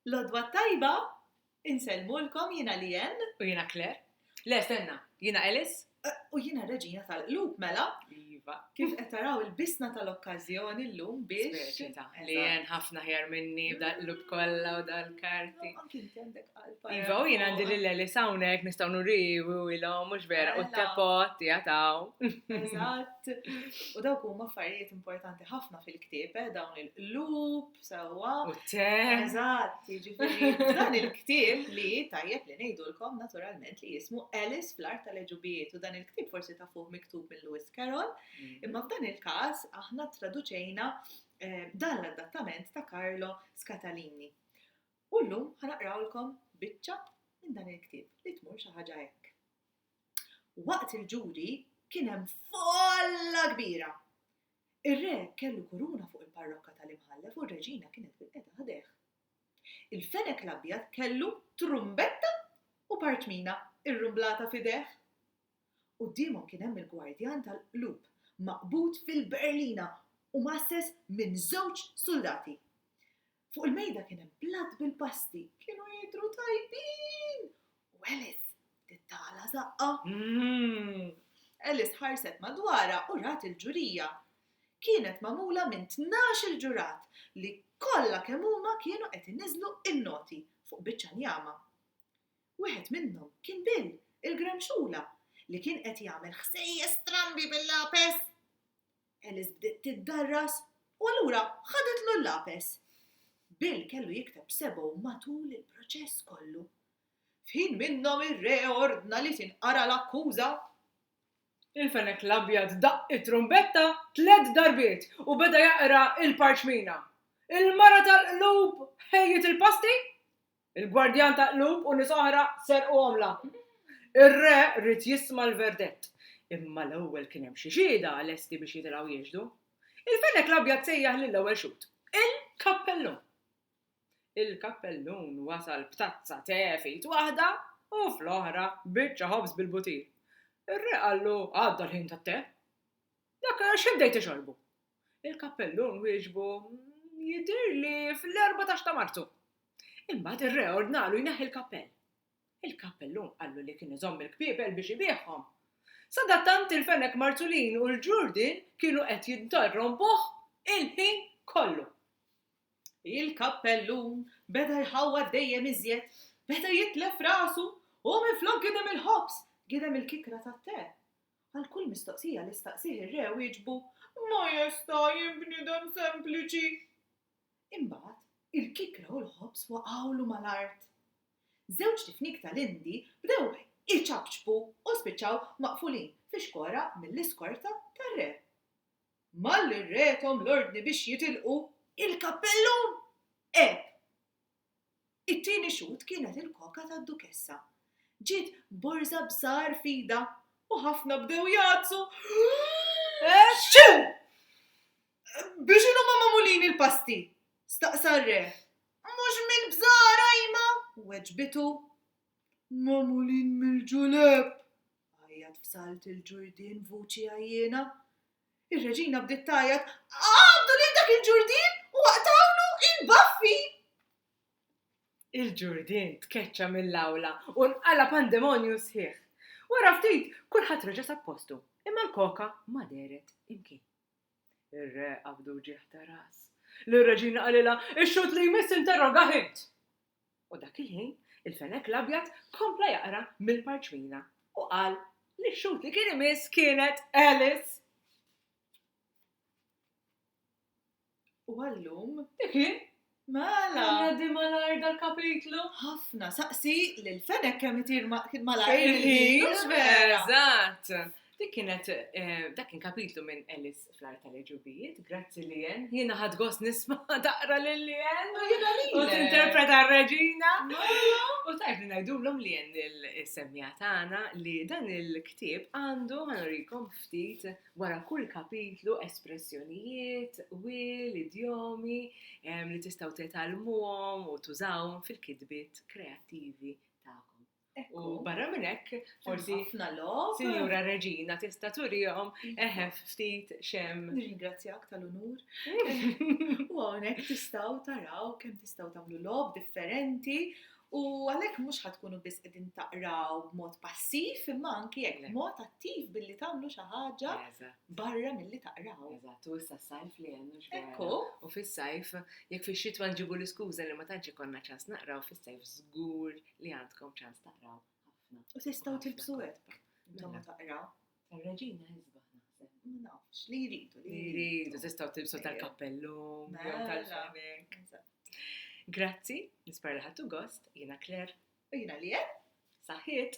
L-odwa t-tajba, insellmulkom jiena Lianne. U jiena Claire. Le, stenna, jiena Alice. U jiena Reġina tal-Qlub, mela. Iva. Kif qed taraw il-bisna tal-okkażjoni llum biex. Speċita. Lianne ħafna ħjar minni b'dal-qlub kollha u dal-karti. Anki inti għandek qalba. Iva, u jien għandi lil Alice hawnhekk nistgħu nuriwi u ilhom mhux vera u t-tepot jataw. Eżatt. U dawk huma affarijiet importanti ħafna fil-ktieb, dawn il-qlub. sewwa. U te. Eżatt, jiġifieri dan il-ktieb li tajjeb li ngħidulkom naturalment li jismu Alice fl-Art tal-Eġubijiet u dan il-ktieb forsi ta' fuq miktub minn Lewis Carroll, mm. imma f'dan il-każ aħna traduċejna eh, dan l-adattament ta' Carlo Scatalini. U llum ħanaqrawlkom biċċa minn dan il-ktieb li tmur xi ħaġa hekk. Waqt il-ġuri kien hemm folla kbira Ir-re kellu kuruna fuq il-parrokka tal-Imħallef u r-reġina kienet bilqiegħda ħdejh. Il-fenek l-abjad kellu trumbetta u partmina rrumblata f'idejh. Quddiemhom kien hemm il-gwardjan tal-qlub maqbud fil-berlina u mgħasses minn żewġ suldati. Fuq il-mejda kien hemm blat bil-pasti, kienu jidhru tajbin! U Alice bdiet tagħla żaqqa. Mmm! Alice ħarset madwarha u rat il-ġurija. Kienet magħmula minn tnax-il ġurat li kollha kemm huma kienu qed iniżżlu n-noti fuq biċċa njama. Wieħed minnhom kien Bill, il-gramxula, li kien qed jagħmel ħsejjes strambi bil-lapes. Alice bdiet tiddarras u allura ħadetlu l-lapes. Bill kellu jikteb sebgħu matul il-proċess kollu. F'ħin minnhom ir-re ordna li tinqara l-akkuża. Il-fenek l-abjad daqq it-trumbetta tliet darbiet u beda jaqra l-parċmina. Il-mara tal-qlub ħejjiet il-pasti Il-gwardjan ta' qlub u nies oħra serqu għomla. Ir-re ried jisma' l-verdett, imma l-ewwel kien hemm xi xhieda lesti biex jitilgħu jixhdu. Il-fenek l-abjad sejjaħ lill-ewwel xhud, Il-kappellun! Il-kappellun wasal b'tazza te f'id waħda u fl-oħra biċċa ħobż bil-butir. Ir-re qallu, Għadda l-ħin tat-te. Dak x'ibdejt tixorbu? Il-kappellun wieġbu, Jidhirli fl-erbatax ta' Marzu. Imbagħad ir-re ordnalu jneħħi l-kappell. Il-kappellun qallu li kien iżomm il-kpiepel biex ibiegħhom. Sadattant il-fenek Marzulin u l-ġurdien kienu qed jinterrompuh il-ħin kollu. Il-kappellun beda jħawwad dejjem iżjed, beda jitlef rasu u minflok gidem il-ħobż, gidem il-kikra tat-te. Għal kull mistoqsija li staqsih ir-re wieġbu, Majesta, jien bniedem sempliċi. Imbagħad, il-kikra u l-ħobż waqgħulu mal-art. Żewġt ifnik tal-Indi bdew iċapċpu u spiċċaw maqfulin fi xkora mill-iskorta tar-re. Malli r-re thom l-ordni biex jitilqu, il-kappellun għeb It-tieni xhud kienet il-koka tad-Dukessa. Ġiet b'borża b'żahar f'idha u ħafna bdew jgħaddsu, Eww! Bi x'inhu huma magħmulin il-pasti? staqsa r-re. Mhux mill-bżar, għajma! weġbitu. Magħmulin mill-ġulepp! għajjat f'salt il-ġurdien b'vuċi għajjiena. Ir-Reġina bdiet tgħajjat, Qabdu lil dak il-Ġurdien u aqtgħulu l-baffi! Il-Ġurdien tkeċċa mill-awla u nqala' pandemonju sħiħ. Wara ftit, kulħadd reġa' sab postu, imma l-koka ma dehret imkien. Ir-Re qabdu ġieħ ta' ras. Lir-Reġina qalilha, Ix-xhud li jmiss interrogah int! U dak il-ħin, il-fenek l-abjad kompla jaqra mill-parċmina u qal li x-xhud li kien imiss kienet Alice. U għallum, dik hi, mela. Għaddi malar dal-kapitlu. Ħafna, saqsi li l-fenek kemm itir malar il-ħin. Eżatt. Dik kienet, eh, dak kien kapitlu minn Ellis fl-ar tal-ġubijiet, grazzi li jen, jiena ħad gos nisma daqra li li jen, u t-interpreta r-reġina. U tajb li najdu l-om li jen il-semmija tagħna li dan il-ktib għandu ħanurikom ftit wara kull kapitlu espressjonijiet, wil, idjomi li tistaw tetalmuhom u tużawhom fil-kitbiet kreattivi tagħkom. U barra minn hekk, forsi ħafna logħob. Sinjura Reġina tista' turihom iva. eħef ftit xem. Nirringrazzjak tal-unur. U hawnhekk tistgħu taraw kemm tistgħu tagħmlu logħob differenti u għalhekk mhux ħatkunu biss qegħdin taqraw b'mod passiv imma anki hekk b'mod attiv billi tagħmlu xi ħaġa barra milli taqraw. Eżatt, u issa sajf li hemm mhux Ekku. U fis-sajf jekk fix-xitwa nġibu l-iskuża li ma tantx ikollna ċans naqraw fis-sajf żgur li għandkom ċans taqraw ħafna. U tistgħu tilbsu hekk. Intom mela. taqraw. Tar-reġina ħisba naħseb. Ma nafx li jridu li jridu. Tistgħu tilbsu eh, tal-kappellu, mela. tal-ġamek. Grazzi, nispar li ħattu gost, jiena Claire. U jiena li Saħħit.